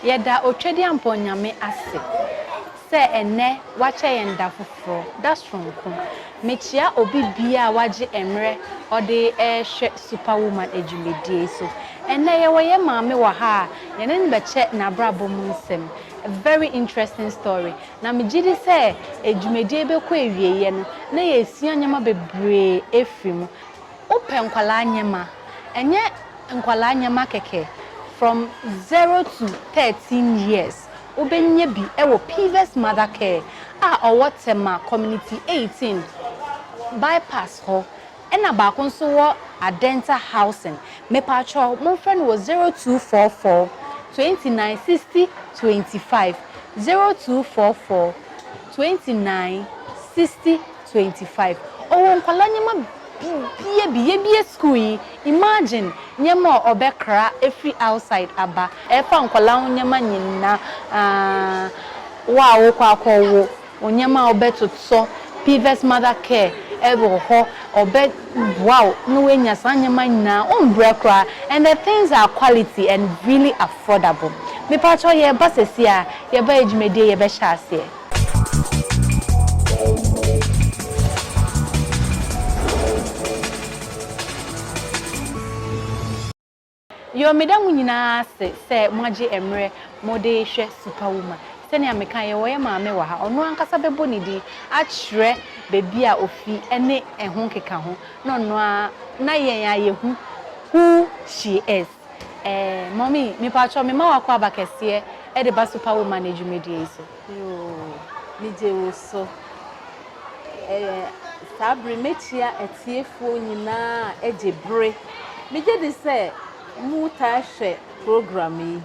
Yɛda Otwadiampɔn Nyame ase sɛ ɛnnɛ wakyɛ yɛn da foforɔ, da soronko. Mekyea obi biaa wagye mmerɛ ɔde rehwɛ Super Woman adwumadie yi so. Ɛnnɛ yɛwɔ yɛn maame wɔ ha a yɛne no bɛkyɛ n'abrabɔ mu nsɛm. A very interesting story. Na megye di sɛ dwumadie yi bɛkɔ awieeɛ no, na yɛasua nneɛma bebree afiri mu. Wopɛ nkwadaa nneɛma, ɛnyɛ nkwadaa nneɛma kɛkɛ, from zero to thirteen years, wobɛnya bi wɔ Pivas Mother Care a ɔwɔ Tema Community eighteen, Bypass hɔ. Ɛna baako nso wɔ Adenta housing mepatwɔ mo nfrɛ no wɔ zero two four four twenty nine sixty twenty five zero two four four twenty nine sixty twenty five ɔwɔ nkwadaa nneɛma bibia bi yɛbie school yi imagine nneɛma a ɔbɛ kra ɛfiri outside aba ɛfa nkwadaa ho nneɛma nyinaa wo a wokɔ akɔ wo. Nneɛma a wobɛtotɔ, Pvs Mother Care wɔ hɔ, wɔbɛboa wo na woanya saa nneɛma nyinaa, wombrɛ koraa and the things are quality and really affordable. Mepakyɛw, yɛreba sɛsi ara, yɛba yɛ dwumadie, yɛbɛhyɛ aseɛ. Yo, meda mo nyinaa ase sɛ moagye mmerɛ mode rehwɛ Superwoman. Sɛnea mekae, yɛwɔ yɛn maame wɔ ha. Ɔno ankasa bɛbɔ ne din akyerɛ baabi a ɔfi ne ɛho nkekaho, na ɔno ara na yɛn a yɛhu who she is. Eh, Mommy, mepakyɛw, mema wo akwaaba kɛseɛ de ba Superwoman dwumadie yi so. Yoo, megye wo so. Ɛɛ, saa bere yi mekyia atiefoɔ nyinaa a agye bere. Megye di sɛ motaa hwɛ program yi,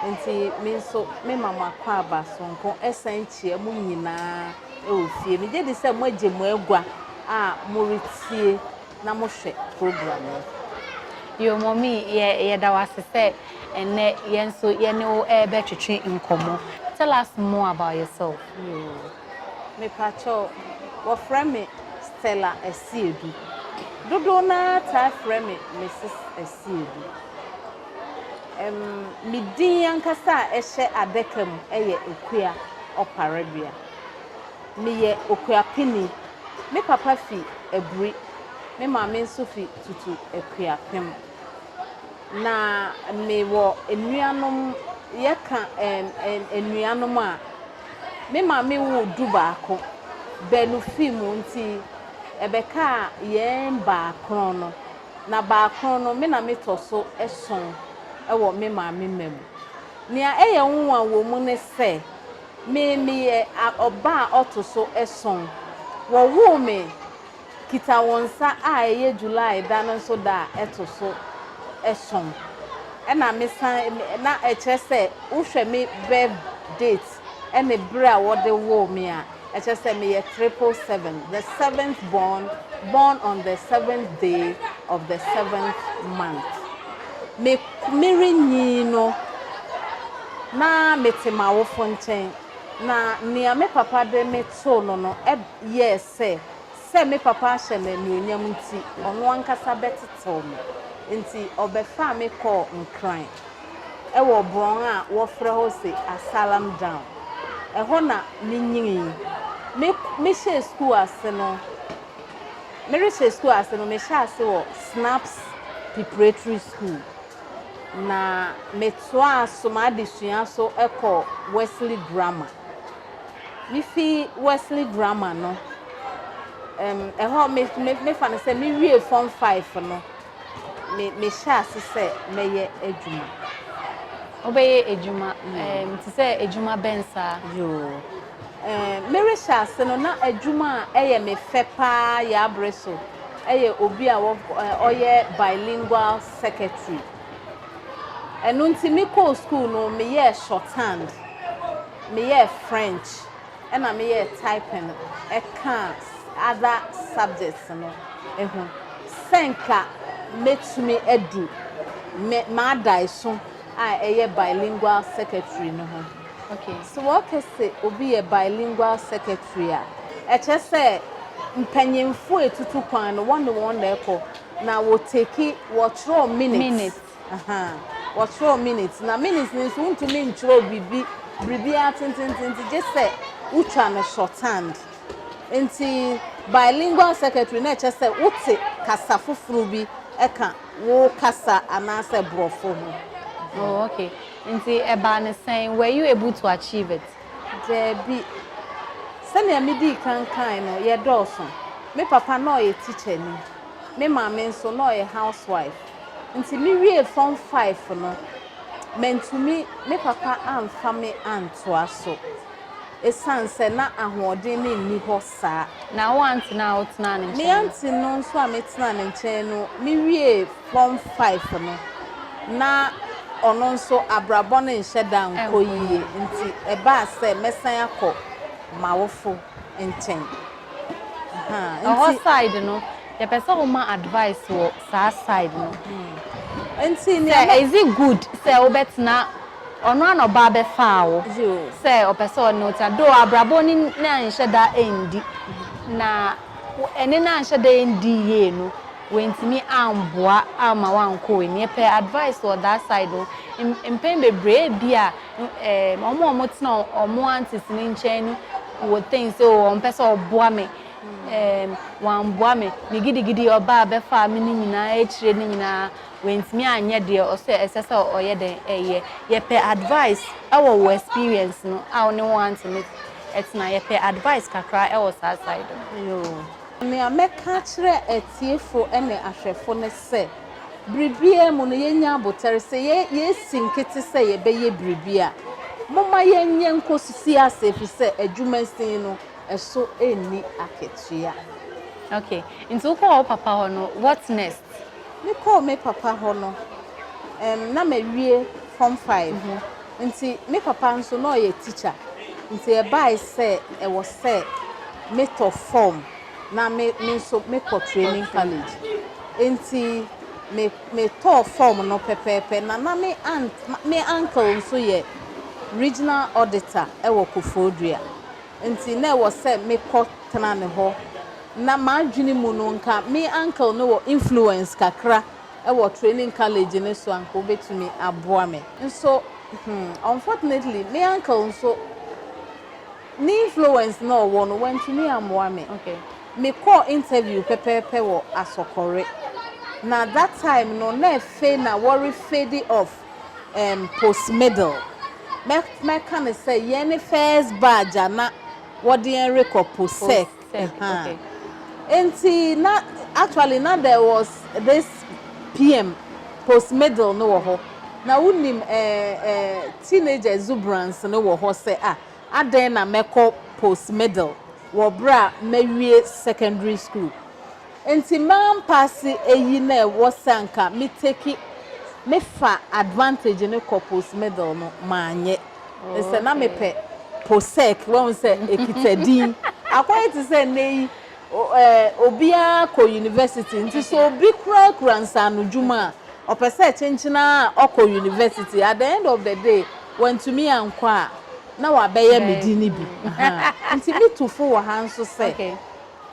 enti me nso mema mo akwaaba soronko san kyia mo nyinaa wɔ fie. Megye di sɛ moagye mo agua a moretie. na mohwɛ program yi. Yo Mommy, yɛ yɛda wo ase sɛ ɛnnɛ yɛn nso yɛne wo rebɛtwetwe nkɔmmɔ. Tell us more about yourself. Yo, mepakyɛw, wɔfrɛ me Stella Asiedu. Dodow no ara taa frɛ me Mrs. Asiedu. Ɛm, me din ankasa a ɛhyɛ adaka mu yɛ Akua Ɔparebea. Meyɛ Okuapeni. Me papa fi Aburi. Me maame nso fi Tutu Akuapem. Na mewɔ anuanom, yɛka ɛɛm ɛɛm anuanom a, me maame woo du baako. Baanu fi mu nti, ɛbɛkaa yɛn baakron no. Na baakron no, me na metɔ so ason wɔ me maame mma mu. Nea ɛyɛ nwonwa wɔ mu ne sɛ. Me, meyɛ a ɔba a ɔto so ason. Wɔwoo me Kitawonsa a ɛyɛ July da no nso da a ɛto so ason. Ɛna me san, na ɛkyerɛ sɛ wohwɛ me birth date ɛne bere a wɔde woo me a, ɛkyerɛ sɛ meyɛ triple seven, the seventh born, born on the seventh day of the seventh month. Me. Merenyin no, na mete m'awofo nkyɛn, na nea me papa de me too no no yɛɛ sɛ, sɛ me papa ahyɛ me anuonyam nti, ɔno ankasa bɛtetew me. Enti ɔbɛfaa me kɔɔ Nkran wɔ borɔn a wɔfrɛ hɔ se Asalam Down. Ɛhɔ na minyinii. Mehyɛɛ sukuu ase no, Merehyɛ sukuu ase no, mehyɛɛ ase wɔ Snaps Preparatory School, na metoaa so m'adesua so kɔɔ Wesley Grammar. Mifi Wesley Grammar no, ɛm, ɛhɔ me, me, mefa no sɛ mewiee Form Five no. me mehyɛ ase sɛ mɛyɛ adwuma. Wobɛyɛ adwuma ɛɛm te sɛ adwuma bɛn saa? Yoo, ɛɛm merehyɛ ase no na adwuma a ɛyɛ me fɛ paa yɛ abere so ɛyɛ obi a wɔ ɔyɛ bilingual secretary. Ɛno nti mekɔɔ school no meyɛɛ shorthand, meyɛɛ French, na meyɛɛ typing kaa other subjects no ho. Sɛ nka mɛtumi adu me m'adaeso a ɛyɛ bilingual secretary no ho. Okay. So wɔka sɛ obi yɛ bilingual secretary a, ɛkyerɛ sɛ mpanyimfo a ɛtutu kwan no, wɔne wɔn na ɛkɔ, na wɔtake, wɔtwerɛ minutes. Minutes. ahaa wɔkyerɛw minutes na minutes no nso wontumi nkyerɛw biribi biribiara tententente gye sɛ wotwa no shorthand nti bilingual secretary na ɛkyɛ sɛ wote kasa foforo bi ɛka wo kasa anaasɛ borɔfo ho. Oh, okay. Nti ɛbaa ne sɛn? Were you able to achieve it? Daabi. Sɛnea midii kan kae no, yɛdɔɔso. Me papa na ɔyɛ tikyani. Me maame nso, na ɔyɛ housewife. Nti me wiee form five no mantumi me papa amfa me antoa so ɛsiane sɛ na ahoɔden no nni hɔ saa. Na wo aunty no a wo tenaa ne nkyɛn no? Me aunty no nso a me tenaa ne nkyɛn no me wiee form five no na ɔno nso abrabɔ no nhyɛ da nkɔ yie nti ɛbaa sɛ mɛsan akɔ m'awofo nkyɛn. Ɛhɔ side no yɛpɛ sɛ wo ma advice wɔ saa side no. Sɛ is it good sɛ wo bɛtena ɔno ara na ɔbaa bɛfaa wo sɛ ɔpɛ sɛ ɔne wo tena though abrabɔ no ne anhyɛ da ɛndi na ɛne no anhyɛ da ɛndi yie no wantumi amboa amma wankɔ w'ani yɛpɛ advice wɔ that side no mpɛn bebree ebia wɔn a wɔtena wɔn aunties no nkyɛn no Wo think sɛ oo ɔmpɛ sɛ ɔboa me ɛɛm wamboa me, me gidigidi ɔbaa bɛfaa me no nyinaa akyire no nyinaa wantumi anyɛ deɛ ɔsɛ ɛsɛ sɛ ɔyɛ dɛn ɛyɛ. Yɛpɛ advice ɛwɔ wo experience no a wo ne wɔn antene ɛtena yɛpɛ advice kakra ɛwɔ saa side no. Yoo. Nea mɛka akyerɛ atiefo ne ahwɛfo ne sɛ, biribiara mu no yɛnnya abotare sɛ yɛasi nkete sɛ yɛbɛyɛ biribi a. Momma yɛnyɛ nkosi ase efisɛ adwumasin no, ɛso nni akatua. Okay, nti wokɔɔ wo papa hɔ no, what next? Mekɔɔ me papa hɔ no, ɛɛm, na mawie Form Five. Nti me papa nso, na ɔyɛ tikya. Nti ɛbae sɛ ɛwɔ sɛ metɔ fɔm na me me nso mekɔ Training College. Nti me metɔɔ fɔm no pɛpɛɛpɛ, na na me aunt, me uncle nso yɛ Regional Auditor wɔ Koforidua. enti na ɛwɔ sɛ mekɔ tena ne hɔ. Ná m'adwene mu no, anka me uncle no wɔ influence kakra wɔ Training College no so, anka obetumi aboa me nso. Hmm, unfortunately, me uncle nso, ne influence no a ɔwɔ no, wantumi ammoa me. Mekɔɔ interview pɛpɛɛpɛ wɔ Asɔkɔre, na that time no, na afei na wɔre fade off. ɛɛm post middle. Mɛ mɛka no sɛ yɛn ne first badge a na wɔde yɛn rekɔ post sec. Post sec, Ɛhaa. okay. Enti na actually na there was this PM post middle no wɔ hɔ. Na wonim ɛɛ ɛɛ teenage exuberance no wɔ hɔ sɛ ah adɛn na mɛkɔ post middle wɔ berɛ a mawie secondary school. Nti mampa ase eyi na ɛwɔ sɛ anka me take me fa advantage no kɔ post middle no manyɛ ne sɛ na me pɛ post sec wahu sɛ ekita din akɔyɛ te sɛ nnɛ yi eh obiara kɔ university nti sɛ obi kura kura nsaano dwuma a ɔpɛ sɛ ɛkyenkyen a ɔkɔ university at the end of the day wantumi ankɔ a na wabɛyɛ me di no bi ha nti me tu fo wɔ ha nso sɛ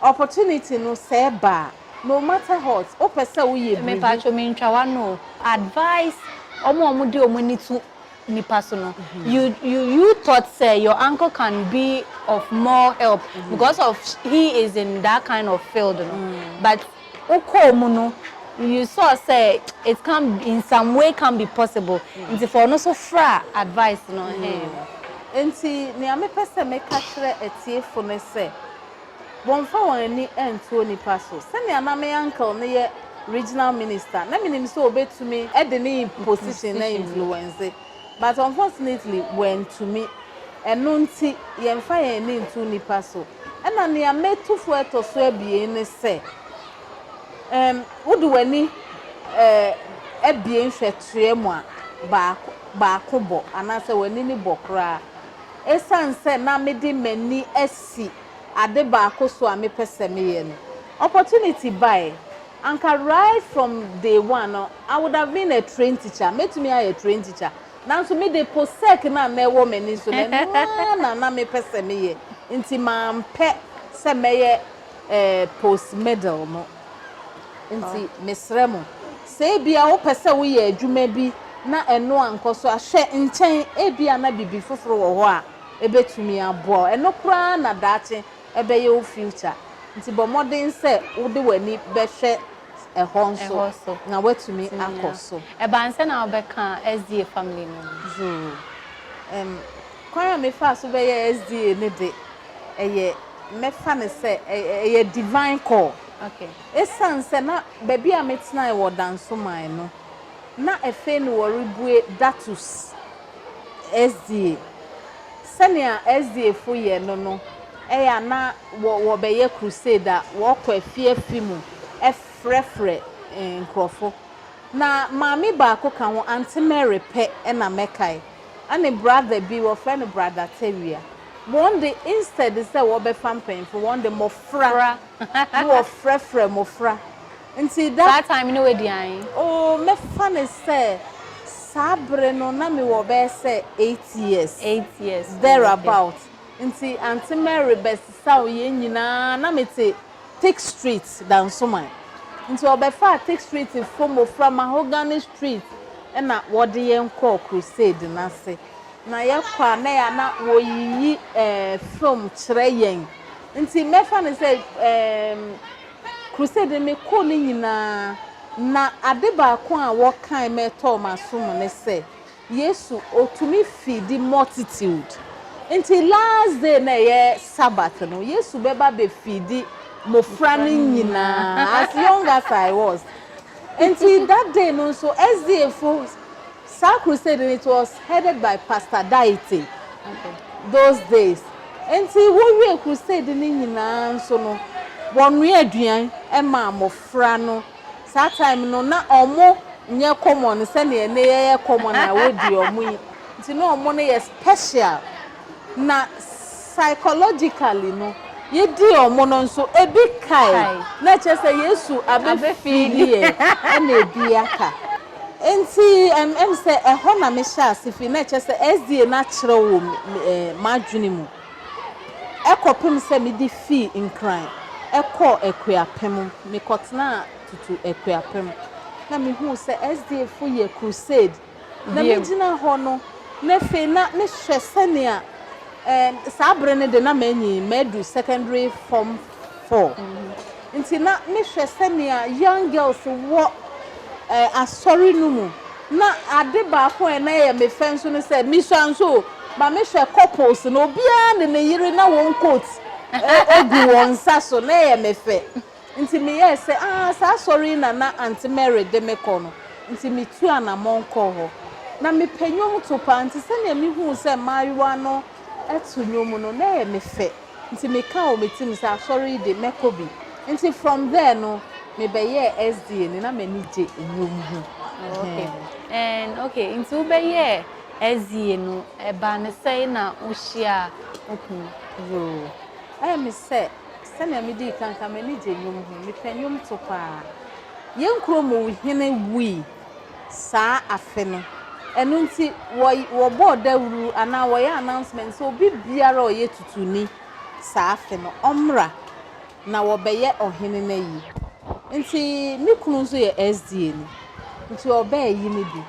Opportunity no sɛ ɛba a, no matter hot, wopɛ sɛ woyɛ biribi. Mepatwo mentwa w'ano o, advise ɔmo a ɔmo de ɔmo ani to nipa so no, you you you thought sɛ your uncle can be of more help because of he is in that kind of field no, but wo kɔɔ mu no you saw sɛ it can in some way can be possible, nti fa ɔno so fra advise no, ɛhɛɛm. Nti nea mepɛ sɛ meka kyerɛ atiefo no sɛ. Wɔmfa wɔn ani nto onipa so. Sɛnea na me uncle no yɛ regional minister, na menim sɛ obetumi de ne position na influence, but unfortunately wantumi. Ɛno nti yɛmfa yɛn ani nto nnipa so. Ɛna nea metu fo a ɛtɔ so abien ne sɛ, um wode w'ani eh abien hwɛ toa mu a, baako baako bɔ anaasɛ w'ani no bɔ koraa. Esiane sɛ na mede m'ani si ade baako so a mepɛ sɛ meyɛ no. Opportunity bae. Anka right from day one no I would have been a trained teacher, mɛtumi ayɛ trained teacher. Nanso me de possec no a na ɛwɔ m'ani so no, ɛno ara na na mepɛ sɛ meyɛ, nti mampɛ sɛ mɛyɛ eh post middle no. Nti mesrɛ mo, sɛ ebia wopɛ sɛ woyɛ adwuma bi na ɛno ankɔ so a, hwɛ nkyɛn, ebia na biribi foforo wɔ hɔ a. ebetumi aboa wo. Ɛno koraa na daakye ɛbɛyɛ wo future. Nti bɔ mmɔden sɛ wode w'ani bɛhwɛ ɛhɔ nso na woatumi akɔ so. Ɛba ansa na wobɛka SDA family no ho. Zoo. Ɛm, kwan a mefaa so bɛyɛɛ SDA no de, ɛyɛ, mɛfa no sɛ ɛyɛ divine call. Esiane sɛ na baabi a metenae wɔ Dansoman no, na afei na wɔrebue Datus. Ɛsdie. Sɛnea Ɛsdiefo yɛ no no, ɛyɛ a na wɔ wɔbɛyɛ crusade a, wɔkɔ afi afi mu frɛfrɛ nkurɔfo. Na maame baako ka ho, Aunty Mary pɛ na mɛkae, ɛne brother bi, wɔfrɛ no Brother Tawia. Wɔn de, instead sɛ wɔbɛfa mpanyimfo, wɔn de mmofra na wɔfrɛfrɛ mmofra. Nti da. Saa time no wadi ae. Oh, mɛfa no sɛ saa bere no na mewɔ bɛyɛ sɛ eight years. Eight years, oh, okay. There about. Nti Aunty Mary bɛsesaw yɛn nyinaa, na mete Tick Street, Dansoman. Nti ɔbɛfaa Tick Street fo mmofra, Mahogany Street, ɛna wɔde yɛn kɔɔ crusade no ase. Na yɛkɔ a na ɛyɛ a na wɔreyiyi ɛɛ film kyerɛ yɛn. Nti mɛfa no sɛ ɛɛm Crusade no mekɔɔ no nyinaa, na ade baako a wɔkae ma ɛtɔɔ m'asom ne sɛ, Yesu, otumi feedi multitude. Enti last day no a ɛyɛ Sabbath no, Yesu bɛba abɛfeedi mmofra no nyinaa, as young as I was. Enti that day no nso, SDA fo Saa crusade no it was headed by Pastor Daite those days nti wowie crusade no nyinaa nso no wɔnoa aduan ma mmɔfra no saa time no na ɔmo nyɛ common sɛnea ɛnɛ yɛyɛ common a wodi ɔmo yi nti na ɔmo no yɛ special na Psychologically no, yedi wɔn no nso ebi kae, na kyerɛ sɛ Yesu abefeedi ɛ ɛna ebi aka. Enti ɛm ɛm sɛ ɛhɔ na me hyɛ ase fi, na kyerɛ sɛ SDA no akyerɛw wɔ me ɛ m'adwene mu ɛkɔpem sɛ me de fii Nkran ɛkɔɔ Akuapem. Me kɔtenaa tutu Akuapem na me huu sɛ SDA fo yɛ crusade Na megyina hɔ no, na afei na mehwɛ sɛnea saa bere no de na manyin, madu secondary form four, nti na mehwɛ sɛnea young girls wɔ asɔre no mu. Na ade baako a na ɛyɛ me fɛ nso ne sɛ, misua nso o, ma mehwɛ couples no, obiara ne ne yere na wɔn coat gu wɔn nsa so, na ɛyɛ me fɛ. Nti meyɛɛ sɛ, aah, saa asɔre yi na na Aunty Mary de me kɔ no. Nti metuu anammɔn kɔɔ hɔ. Ná mepɛ nnwomto paa, nti sɛnea mihuu sɛ mmaayewa no to nnwom no, na ɛyɛ me fɛ. Nti mekaa wɔ me tirim sɛ, asɔre yi de, mɛkɔ bi. Nti from there no, mebɛyɛɛ SDA ni. Ná m'ani gye nnwom ho. Okay. And, okay, nti wobɛyɛɛ SDA no, ɛbaa no sɛn na wohyiaa wo kunu? Yoo, ɛyɛ me sɛ. Sɛnea midii kan ka no, m'ani gye nnwom ho. Mepɛ nnwomto paa. Yɛn kurom hene wui saa afe no. Ɛno nti, wɔbɔɔ dawuru anaa wɔyɛɛ announcement sɛ obi biara a ɔyɛ Tutuni saa afe no, ɔmmra na wɔbɛyɛ ɔhene no ayi. Nti me kunu nso yɛ SDA ni, nti ɔbɛɛyi no bi.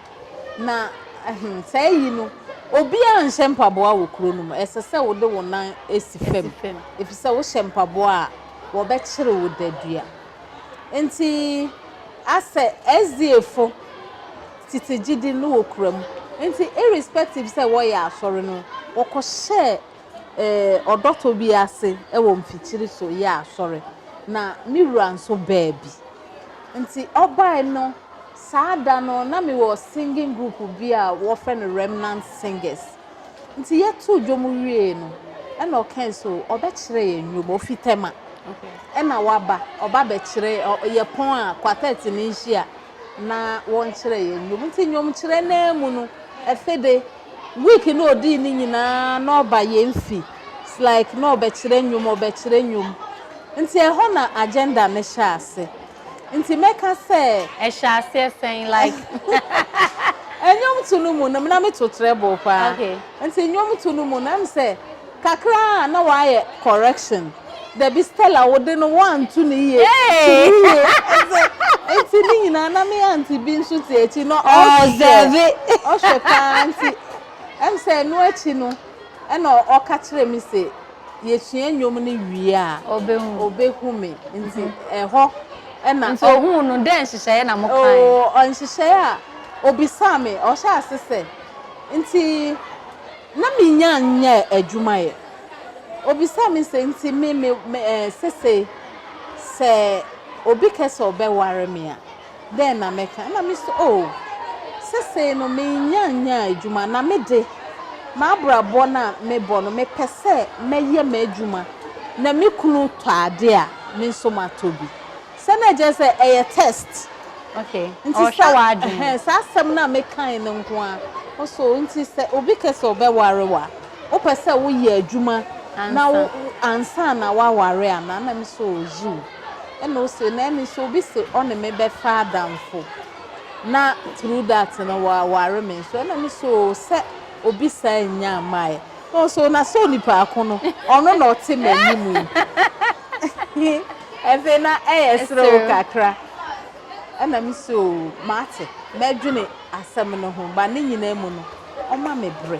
Na, ahem, saa ayi no, obiara nhyɛ mpaboa wɔ kuro no mu. Ɛsɛ sɛ wode wo nan si fam, ɛfiri sɛ wohyɛ mpaboa a, wɔbɛkyere wo dadua. Enti, asɛ SDAfo tete gyidi no wɔ kura mu. Enti, irrespective sɛ wɔyɛ asɔre no, wɔkɔhyɛɛ eh, ɔdɔtɔ bi ase wɔ mfikyiri so yɛɛ asɔre. Na me wura nso baa bi. Nti, ɔbae no, Saa da no, na mewɔ singing group bi a wɔfrɛ no Remnant Singers. Nti yɛtoo dwom wiee no, ɛna ɔkae sɛ ɔbɛkyerɛ yɛn nnwom. Ofi Tema. Ɛna waba, ɔba bɛkyerɛ, yɛ pɔn a quartet no nhyia na wɔnkyerɛ yɛn nnwom. Nti nnwomkyerɛ no ara mu no, afe de, week no a odii no nyinaa na ɔba yɛn fi. It's like na ɔbɛkyerɛ nnwom, ɔbɛkyerɛ nnwom. Nti ɛhɔ na agenda no hyɛɛ ase. nti mɛka sɛ. ɛhyɛ aseɛ sɛn like. nnwomto no mu no na meto treble paa nti nnwomto no mu no ɛm sɛ kakra a na wayɛ correction dabi Stella wo de no woanto no yie to no yie nti ne nyinaa na me aunty bi nso te akyi na ɔhwɛ ɔhwɛ paa nti ɛm sɛ ɛno akyi no Ɛna ɔka kyerɛɛ me se, Yesua nnwom no wie a, obehu me. Nti ɛhɔ na. Nti ohuu no. Dɛn nhyehyɛe na mokae? Oo, nhyehyɛe a obisaa me, ɔhyɛɛ ase sɛ, Nti na minnya nyɛ adwuma ɛ? Obisaa me se, Nti me, me, me, ɛɛ, sesei, sɛ obi kɛ sɛ ɔbɛware me a. dɛn na mɛka? Ɛnna mise, Oo, seesei no mennya nyaa adwuma, na me de, m'abrabɔ no a mebɔ no, mepɛ sɛ mɛyɛ m'adwuma na me kunu tɔ ade a, me nso matɔ bi. Sɛ na ɛkyerɛ sɛ ɛyɛ test. Okay, ɔrehwɛ w'adwene. Nti sa, saa asɛm no a mekae no nko ara, ɔse, Oo, nti sɛ obi ka sɛ ɔbɛware wo a, wopɛ sɛ woyɛ adwuma na wo, ansa na woaware anaa? Ɛnna mise, Oo, yiw. Ɛna ose na ɛne sɛ obi se ɔne me bɛfa adamfo na through that no waware me nso ɛna me se oo sɛ obi saa nnya mmaeɛ. Na ɔse oo na sɛ onipaako no ɔno na ɔte m'anim yi. Afei na ɛyɛ serew kakra. Ɛna me se oo mate, mɛdwene asɛm no ho but ne nyinaa mu no ɔma me berɛ.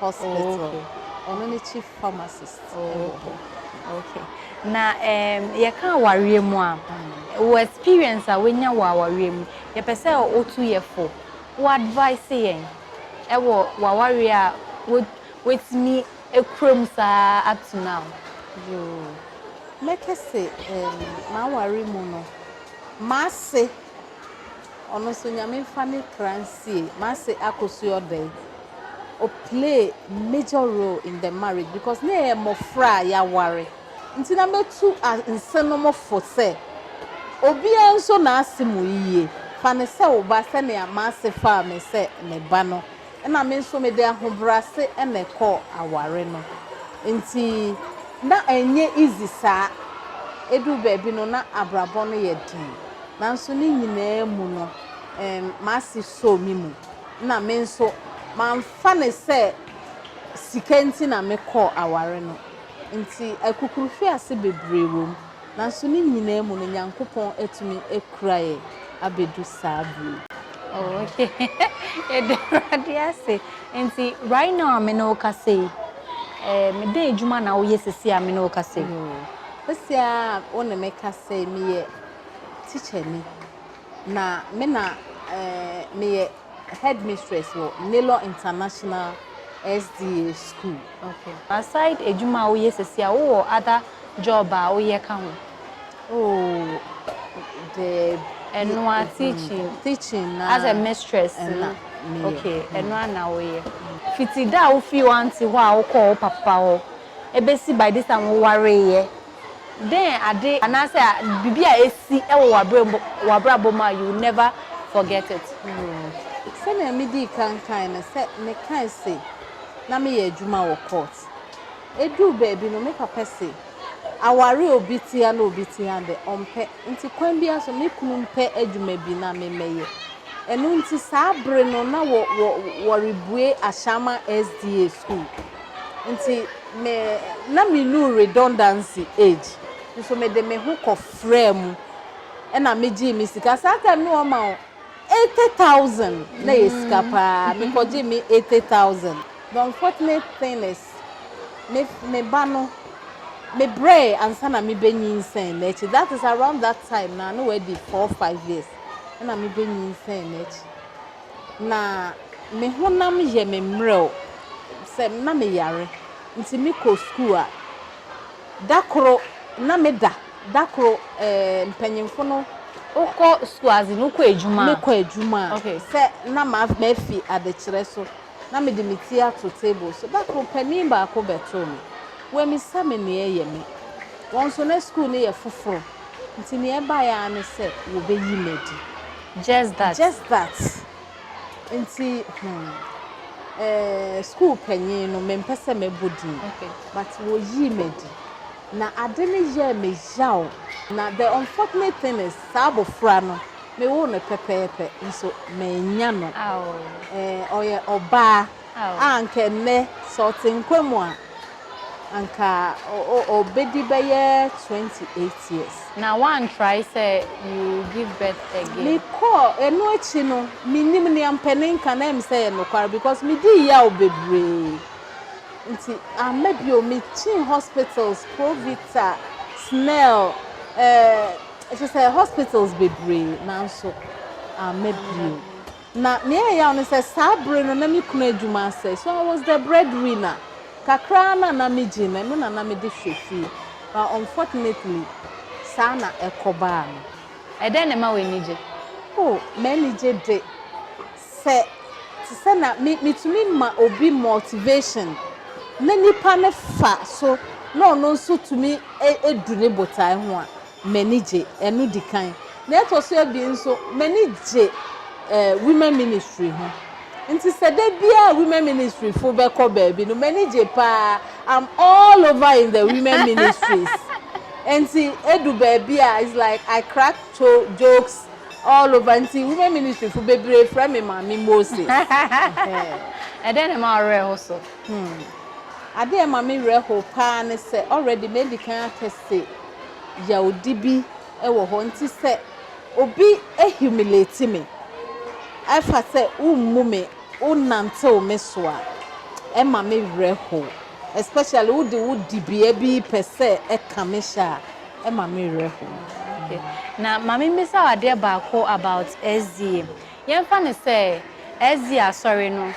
Hospital. Ɔno ne chief pharmacist wɔ hɔ. Okay. Na um, yɛka awareɛ mu a, wɔ experience a woanya wɔ awareɛ mu, yɛpɛ sɛ wotu yɛ fo, wo advice yɛn ɛwɔ w'awareɛ a woatumi akura mu saa up to now. Yoo, mɛkɛ se um, m'aware mu no, m'ase Ɔno nso Nyame nfa ne kra nsie. M'ase akɔ su ɔdɔe. Ɔ play major role in the marriage because na yɛyɛ mmɔfra a yɛaware nti na mɛtu nsenom fo sɛ obiara nso n'ase mu yiye. Fa no sɛ wo ba sɛnea m'ase faa me sɛ ne ba no. na me nso mede ahobrɛase na ɛkɔɔ aware no nti na ɛnyɛ easy saa, ɛduru baabi no na abrabɔ no yɛ den nanso ne nyinaa mu no m'ase sɔɔ me mu na me nso mamfa no sɛ sika nti na mekɔɔ aware no nti akukuruhwease bebree wɔ mu. Nanso ne nyinaa mu no Nyankopɔn atumi akura yɛ abɛdu saa berɛ yi. Oh okay yɛda awurade ase nti right now a me ne wo kasa yi eh, me dɛn adwuma na woyɛ sisi a me ne wo kasa yi. Hmm. Sisi a wo ne me kasa yi meyɛ teacher ni na me na eh, meyɛ headmistress wɔ Naylor International SDA School. Okay. Aside adwuma a woyɛ sisi a, wowɔ other job a woyɛ ka ho? Oh, the ɛnoa mm-hmm. teaching teaching na as a mistress na okay ɛnoa mm. na woyɛ fiti da a wofii wante hɔ a wokɔɔ wo papa hɔ ebesi by this time wowareeɛ Dɛn ade anaasɛ biribi a asi wɔ w'abrabɔ mu a you will never forget it? Hmm, sɛnea midii kan kae no, sɛ mekae se na meyɛ adwuma wɔ court. Eduu baabi no, me papa se, Aware obi te ha na obi te ha de, ɔmpɛ. Enti kwan biara so, me kunu mpɛ adwuma bi na me mmɛyɛ. Ɛno nti saa bere no na wɔrebue Ashama SDA School. Enti Me, na menuu redundancy age, nso mede me ho kɔfraa mu na megyee me sika. Saa time no wɔma wo eighty thousand, na ɛyɛ sika paa. Mekɔgyee me eighty thousand. The unfortunate thing is, me me ba no, mebrɛɛe ansa na mebenyinsɛn n'akyi. That is around that time no a, na wadi four, five years na mebenyinsɛn n'akyi. na me honam yɛ me mmerɛw sɛ na meyare nti mekɔ sukuu a, da koro na meda, da koro mpanyimfo no. Wokɔ sukuu adze no, wokɔ adwuma a. Mekɔ adwuma a, sɛ na mafi adekyerɛ so na mede me ti ato table so. Da koro panin baako bɛtoo me, wammisa me nea ɛyɛ me. Wɔn nso na sukuu no yɛ foforo nti nea ɛbae ara ne sɛ wɔbɛyi me adi. Just that. Just that. Nti, hmm, eh, school panyin no, mempɛ sɛ mɛbɔ din. Okay. But wɔyii me adi. Na ade no yɛɛ me yaw. Na the unfortunate thing is, saa abɔfra no, mewoo no pɛpɛɛpɛ, nso mannya no. Aw. Eh, ɔyɛ ɔbaa. a anka ɛnnɛ sɛ ɔte nkwa mu a, anka ɔbɛdi bɛyɛ 28 years. Na woantrae sɛ you will give birth again? Mekɔɔ, ɛno akyi no, mennim nea mpanin ka na ɛm sɛ ɛyɛ nokware because medii yaw bebree nti amma bio. Mekyinii hospitals, Provita, Snell, eh, kyerɛ sɛ hospitals bebree nanso amma bio. Na nea ɛyɛ yaw ne sɛ, saa bere no na me kunu adwuma asɛe, so I was the breadwinner. Kakra ara no a na migye no, ɛno na na mede hwɛ fie. But unfortunately, saa na ɛkɔbaa no. Ɛdɛn na ɛma w'ani gye? Oh, m'ani gye de, sɛ te sɛ na me, mitumi ma obi motivation, na nipa no fa so, na ɔno nso tumi du ne botae ho a, m'ani gye. Ɛno di kan. Nea ɛtɔ so abien nso, m'ani gye women ministry ho. Nti sɛ da biara a women ministry fo bɛkɔ baabi no, m'ani gye paa. I'm all over in the women ministries. Nti edu baabi a, it's like I crack jokes all over. Nti women ministry fo bebree frɛ me Maame Moses. Ɛdɛn na ɛma wo werɛ ho so? Hmm. Ade a ɛma me werɛ how paa ne sɛ already madi kan aka se, yawdi bi wɔ hɔ nti sɛ obi humiliate me ɛfa sɛ wommu me wonantew me so a ɛma me werɛ how especially wode wo dibea bi pɛ sɛ ɛka me hyɛ a ɛma me werɛ how. Okay na ma me mmisa wo adeɛ baako about SDA yɛmfa no sɛ SDA asɔre no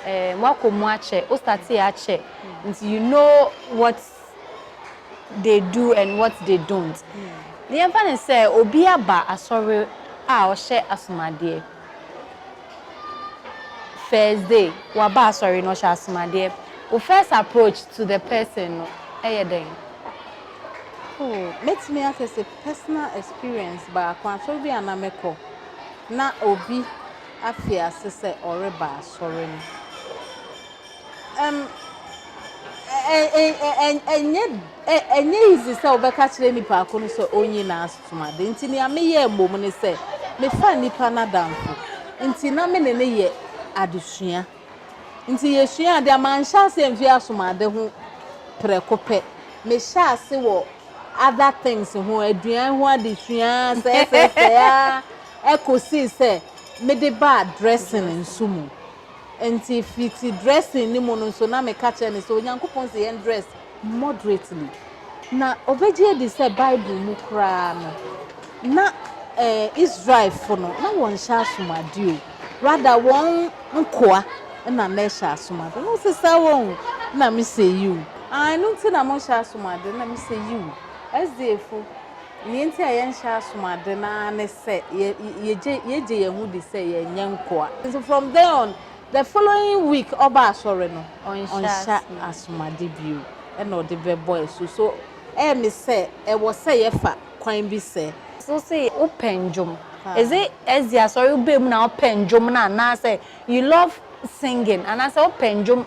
eh, woakɔ mu akyɛ wo startee akyɛ nti you know what they do and what they don't. Yɛmfa no sɛ obi aba asɔre a ɔhyɛ asomadeɛ. First day, waba asɔre na ɔhyɛ asomadeɛ. Wo first approach to the person no yɛ dɛn? Oh, mɛtumi aka sɛ personal experience baako, asɔre bi a na mekɔ na obi afi ase sɛ ɔreba asɔre no. Ɛm, ɛ, ɛ, ɛ, ɛnyɛ, ɛ, ɛnyɛ easy sɛ wobɛka kyerɛ nipa ko no sɛ ɔnyi n'asom ade. Nti nea meyɛɛ mmom ne sɛ, mefaa nipa no adamfo. Nti na me ne no yɛ adesua. Nti yɛsuaa ade a, manhyɛ aseɛ mfiri asom ade ho prɛko pɛ. Mehyɛɛ ase wɔ other things ho, aduan ho adesua, sɛɛsɛɛsɛɛ ara, ɛkɔsii sɛ mede baa dressing nso mu. Enti fiti dressing no mu no nso na meka kyerɛ no sɛ Onyankopɔn se yɛn dress moderately. Na ɔbɛgye adi sɛ Bible mu koraa no na eh, Israelfo no na wɔnhyɛ asomuade o. Rather wɔn nkoa na na ɛhyɛ asomuade. Na ɔse saa wɔ o. Na mese yiw. Ah, ɛno nti na monhyɛ asomuade? Na mese yiw. SDAfo, Nea enti a yɛnhyɛ asom ade no ara ne sɛ yegye yɛn ho di sɛ yɛnyɛ nkoa. Nti from then on, the following week ɔba asɔre no, ɔnhyɛ asom ade bio na ɔde bɛbɔ asu. So ɛyɛ me sɛ ɛwɔ sɛ yɛfa kwan bi sɛ. So se wopɛ ndwom, is it ɛsdi asɔre woba mu na wopɛ ndwom no anaasɛ you love singing anaasɛ wopɛ ndwom.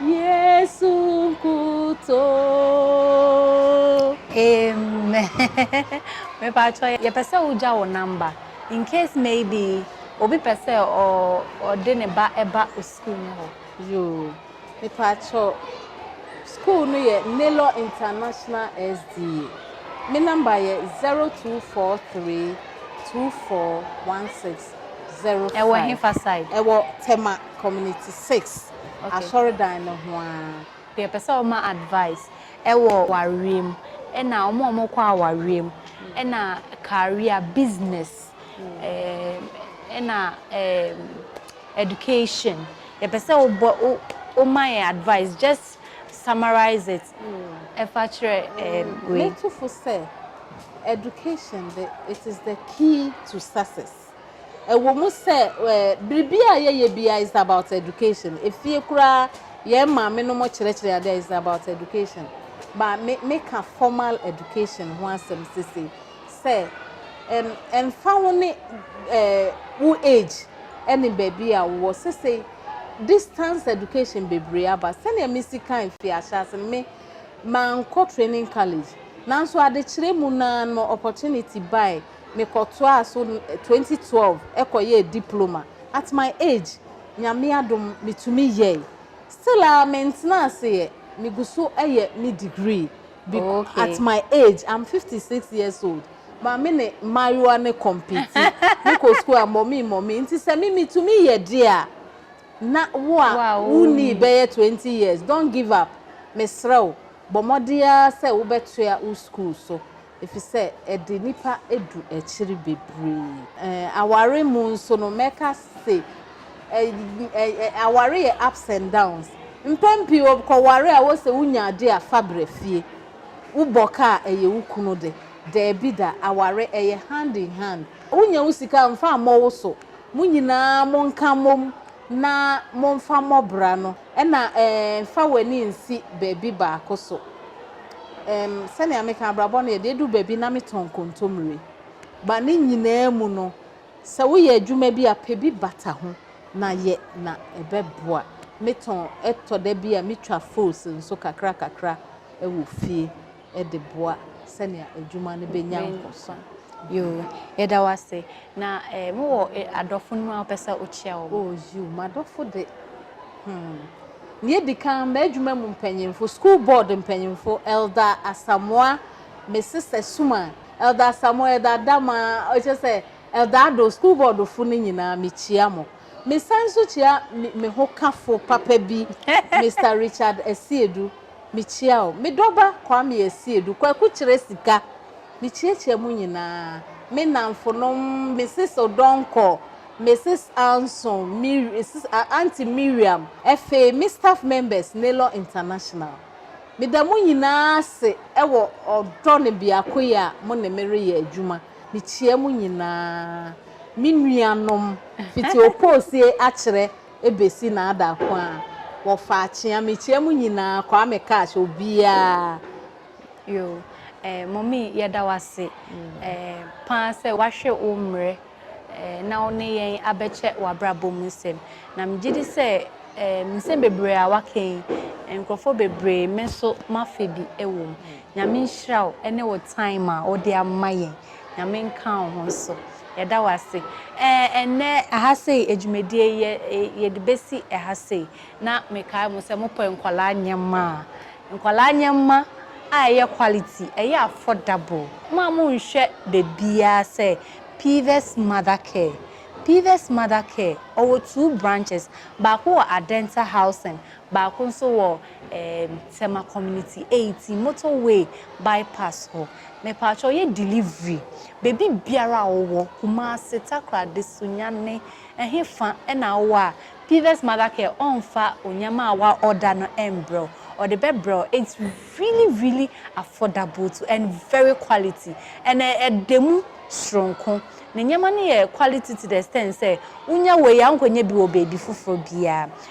Yesu nkuto. Amen. Me pa cho ye pɛ sɛ wo gya wo number in case maybe obi pɛ sɛ ɔ ɔ de ne ba ɛba o school no hɔ. Yoo me pa cho school no yɛ Naylor International SDA me number yɛ zero two four three two four one six zero five. Ɛwɔ hefa side? Ɛwɔ Tema community six. asɔrdan no ho ara. Yɛpɛ sɛ wɔma advice wɔ awareɛ mu ɛna wɔn a wɔkɔ awareɛ mu ɛna career, business ɛna education. Yɛpɛ sɛ wobɔ woma yɛn advice just summarise it ɛfa kyerɛ wei. Mɛto fo sɛ education de it is the key to success. Ɛwɔ mu sɛ biribiara a yɛyɛ biara is about education. Efie koraa yɛn maame no mo kyerɛkyerɛ ade a is about education. Ba me meka formal education ho asɛm sese sɛ ɛmfa ho ne wo age ɛne baabi a wowɔ sese distance education bebree aba sɛnea mesi kan fi ahyɛase me mankɔ training college nanso adekyerɛ mu naa no opportunity bae Mekɔtoaa so twenty twelve kɔyɛɛ diploma at my age Nyame adom metumi yɛe still a mentena ase yɛ megu so yɛ me degree beca at my age I'm fifty six years old ma me ne mmaayewa no compete mekɔ school a mɔmee mɔmee nti sɛ me metumi yɛ deɛ a na wo a wonnii bɛyɛ twenty years don't give up mesrɛ wo bɔ mmɔden ara sɛ wobɛtoa wo school so efisɛ ɛde nnipa du akyiri bebree. Aware mu nso no, mɛka se aware yɛ ups and downs. Mpɛn pii wokɔware a wose wonya ade a fa bra fie. Wobɔ ka a, ɛyɛ wo kunu de. Daabi da, aware ɛyɛ hand in hand. Wonya wo sika a, mfa mmɔ wo so. Mo nyinaa monka mmom na momfa mmɔ bra no. Ɛna eh, mfa w'ani nsi baabi baako so em, Sɛnea meka, abrabɔ no yɛ de edu baabi na metɔn nkontommire But ne nyinaa mu no, sɛ woyɛ adwuma bi a, pɛ bi bata ho na yɛ na ɛbɛboa Metɔn, ɛtɔ da bi a metwa fruits nso kakra kakra wɔ fie. de boa sɛnea adwuma no benya nkɔso. Yoo, yɛda wo ase. Na eh, mowɔ eh, adɔfo no mu a wopɛ sɛ wokyia wɔn? Oh, yoo, m'adɔfo de. Hmm. Nea edi kan, m'adwuma mu mpanyimfo, school board mpanyimfo, Elder Asamoah, me sista Suma, Elder Asamoah, Elder Adama, ɔkyerɛ sɛ Elder Ado, school board fo no nyinaa, mikyia mo. Mesan nso kyia me, me hokafo papa bi, Mister Richard Asiedu. Mekyia wo, me dɔba Kwame Asiedu, Kwaku kyerɛ sika, mekyiakyia mo nyinaa, me nnamfonom, Mrs. Odonkɔ, Mrs. Anson, Auntie Miriam, ɛfei me staff members Naylor International. Meda mo nyinaa ase wɔ ɔdɔ ne biakoyɛ a mo ne me reyɛ adwuma. Mekyia mo nyinaa, me nuanom, fiti Opoosie akyerɛ besi n'ada ko a, wɔfa akyea. Mekyia mo nyinaa, Kwame Cash, obiara. Yo, eh, Mommy, yɛda wo ase eh, paa sɛ wahwɛ wo mmerɛ eh, na wo ne yɛn abɛkyɛ w'abrabɔ mu nsɛm. Na megye di sɛ eh, nsɛm bebree a waka yi, nkurɔfoɔ bebree me nso mafa bi wɔ mu. Nyame nhyira wo ne wo time a wode ama yɛn. Nyame nka wo ho nso. Yɛda wo ase. Ɛɛ, ɛnnɛ ɛha sei, adwumadie yi, yɛde bɛsi ɛha sei. Na mekae mo sɛ mopɛ nkwadaa nneɛma a, nkwadaa nneɛma a ɛyɛ quality, ɛyɛ affordable. Mo a monhwɛ baabiara sɛ Pives Mother Care. Pives Mother Care, ɔwɔ two branches, baako wɔ Adenta Housing, Baako nso wɔ ɛɛm Tema community eighteen motor way bypass hɔ. Mepaatwɔ yɛ delivery baabi biara a wowɔ Kumasi, Takoradi, Sunyani, ɛhe fa ɛna wowɔ a Pivas mother care ɔnfa onyɛma a wa order no ɛmbrɛ wo. Ɔde bɛbrɛ wo it's really really affordable to and very quality and ɛda mu soronko. Ne nyɛma no yɛ quality to the extent sɛ wonya wei a wonkɔnya bi wɔ baabi foforɔ biara.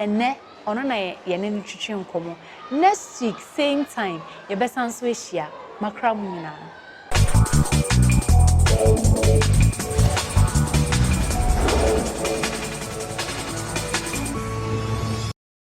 Ɛnnɛ ɔno na yɛne no twetwe nkɔmmɔ. Next week same time yɛbɛsan nso ahyia. Makra mo nyinaa.